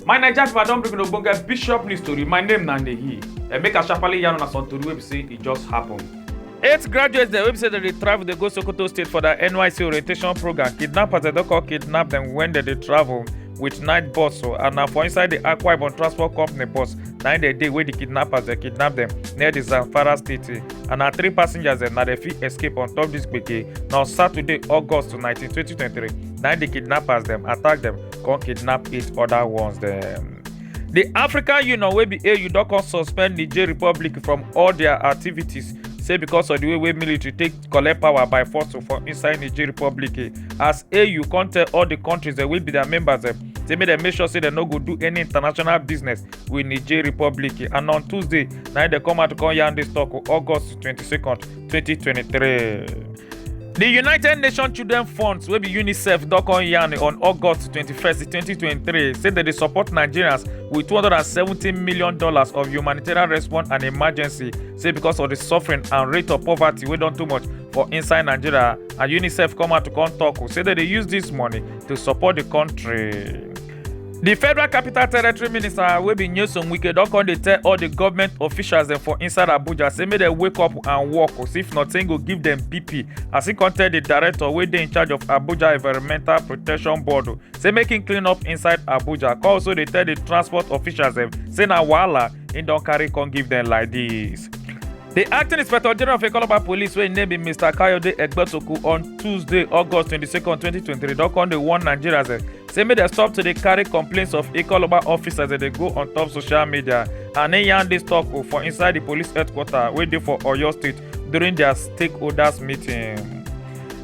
my naija pipo i don bring una ogbonge bishop news tori my name na ndeyi and make i sharparly yarn una some tori wey be say e just happen. eight graduates dem wey be say dem dey travel dey go sokoto state for their nysc orientation program kidnappers dem don come kidnap dem wen dem dey travel. with night bus so and na for inside the akwa ibom transport company bus na im dey dey wey the kidnappers dey kidnap dem near the zamfara state and na three passengers dem na dem fit escape on top this gbege na on saturday august nineteen twenty twenty three na im the kidnappers dem attack dem come kidnap eight other ones dem. The African Union wey be AU don come suspend Niger Republic from all their activities say because of the way wey military take collect power by force for inside niger republic eh, as au come tell all di kontris dem wey be dia members eh, say make dem make sure say dem no go do any international business with niger republic eh. and on tuesday na im dem come out come yarn dis tok oh, august 22nd 2023. The United Nations Children Funds wey be UNICEF don come yarn on August 21st, 2023 say dem dey support Nigerians with $270 million of humanitarian response and emergency say because of the suffering and rate of poverty wey don too much for inside nigeria and unicef come out to come talk say dem dey use this money to support the country. di federal capital territory minister wey be nyesom wike don come dey tell all di government officials dem for inside abuja say make dem wake up and work cos if not im go give dem pp as e come tell di director wey dey in charge of abuja environmental protection board say make im clean up inside abuja come also dey tell di transport officials dem say na wahala He don't carry come give them like this. The acting inspector general of Ekoloba police wey im name be Mr. Kayode Egbetoku on Tuesday, August 22, 2023 don come dey warn Nigerians eh, say make dem stop to dey carry complaints of Ekoloba officers as dem dey go on top social media and im yarn dis talk o for inside the police headquarters wey dey for Oyo state during their stakeholders meeting.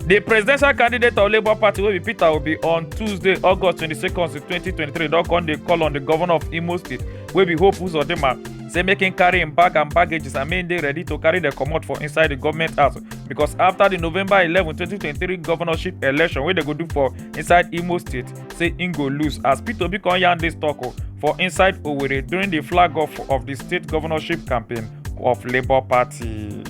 The presidential candidate of Labour Party wey be Peter Obi on Tuesday, August 22, 2023 don come dey call on the governor of Imo state wey be hope uzodinma say make im carry im bag and baggages and make im dey ready to carry dem comot for inside di goment house becos afta di november eleven twenty twenty three governorship election wey dem go do for inside imo state say im go lose as peter obi come yarn dis tok for inside owerri during di flag off of di state governorship campaign of labour party.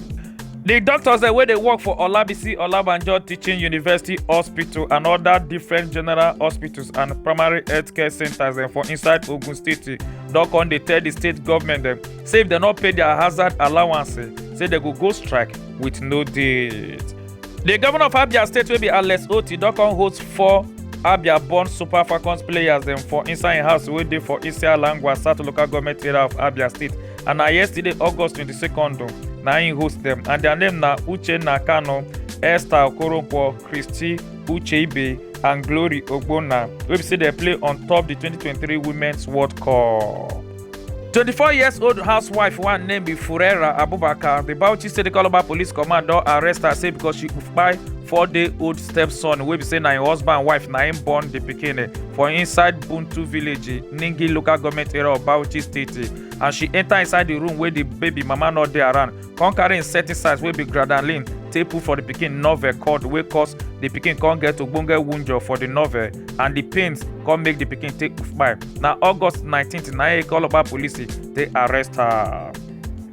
di doctors dem wey dey work for olabisi olabanjo teaching university hospital and oda different general hospitals and primary healthcare centres dem for inside ogun state don come dey tell di state government dem say if dem no pay dia hazard allowance say dem go go strike wit no date. di governor of abia state wey be alex otti don come host four abia born super falcons players dem for inside im house wey dey for isialangwa south local goment area of abia state. and na yesterday august 22nd o, na im host dem and their name na uchenna kanu esther okoronkwo christy ucheibe and glory ogbonna wey be say dem play on top di 2023 women's world cup. 24 years old housewife one name be furera abubakar the bauchi state calabar police command don arrest her say because she kpai four day old stepson wey be say na im husband wife na im born the pikin eh, for inside buntu village eh, ningi local government area of bauchi state eh. as she enter inside the room wey the baby mama no dey around come carry insecticides wey be gradalin take put for the pikin novel cord wey cause the pikin come get ogbonge wunjor for the novel and the pains come make the pikin take kpai na august 19th na e calabar police take arrest her.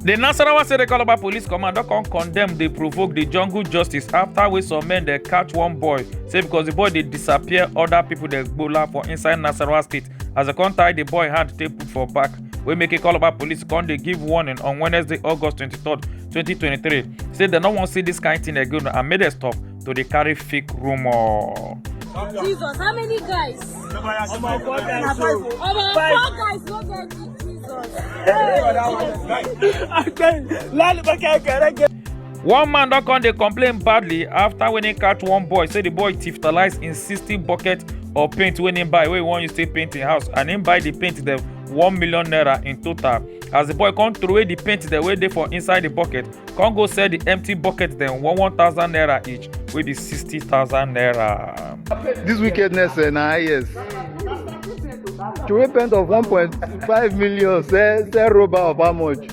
The Nasarawa State Calabar Police Command don come condemn dey provoke the jungle justice after wey some men dey catch one boy say because the boy dey disappear other people dey gbola for inside Nasarawa State as dem come tie di boy hand take put for back wey make ikoloba police come dey give warning on wednesday august 23 2023 say dem no wan see dis kain tin again and make dem stop to dey carry fake rumour. Jesus, how many guys? Omo four guys o. Omo four guys no get Jesus. Hey, I tell you, lálùbọ́kẹ́ kẹrẹ́kẹ́. one man don come dey complain badly after when he catch one boy say the boy tiftalize him sixty bucket of paint wey him buy wey he wan use take paint him house and him buy the paint dem one million naira in total as the boy come throway the paint dem wey dey for inside the bucket come go sell the empty bucket dem one one thousand naira each wey be sixty thousand naira. This wickedness eh, na highest. To repent of 1.5 million, sell, sell rubber of how much?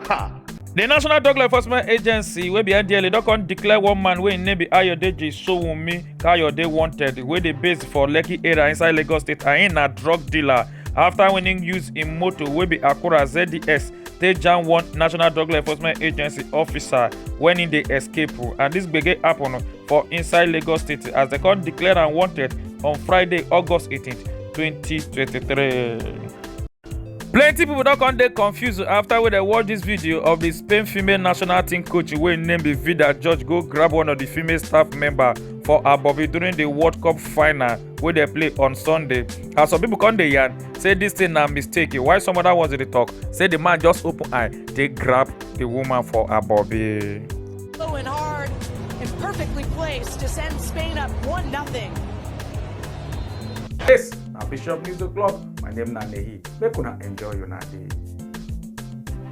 Ha! di national drug law enforcement agency wey be ndla don come declare one man wey im name be ayodeji sowunmi kayode wanted wey dey based for lekki area inside lagos state and im na drug dealer afta wen im use im motor wey be akura zds take jam one national drug law enforcement agency officer wen im dey escape and dis gbege happun for inside lagos state as dem come declare am wanted on friday august 18 2023. plenty pipo don come dey confused afta wey dem watch dis video of di spain female national team coach wey im name be vida george go grab one of di female staff member for her bobby during di world cup final wey dem play on sunday as some pipo come dey yarn say dis thing na mistake while some oda ones dey tok say di man just open eye take grab di woman for her bobby. and perfectly placed to send Spain up 1 0. Yes. na bishop news o'clock my name na nehi make una enjoy una day.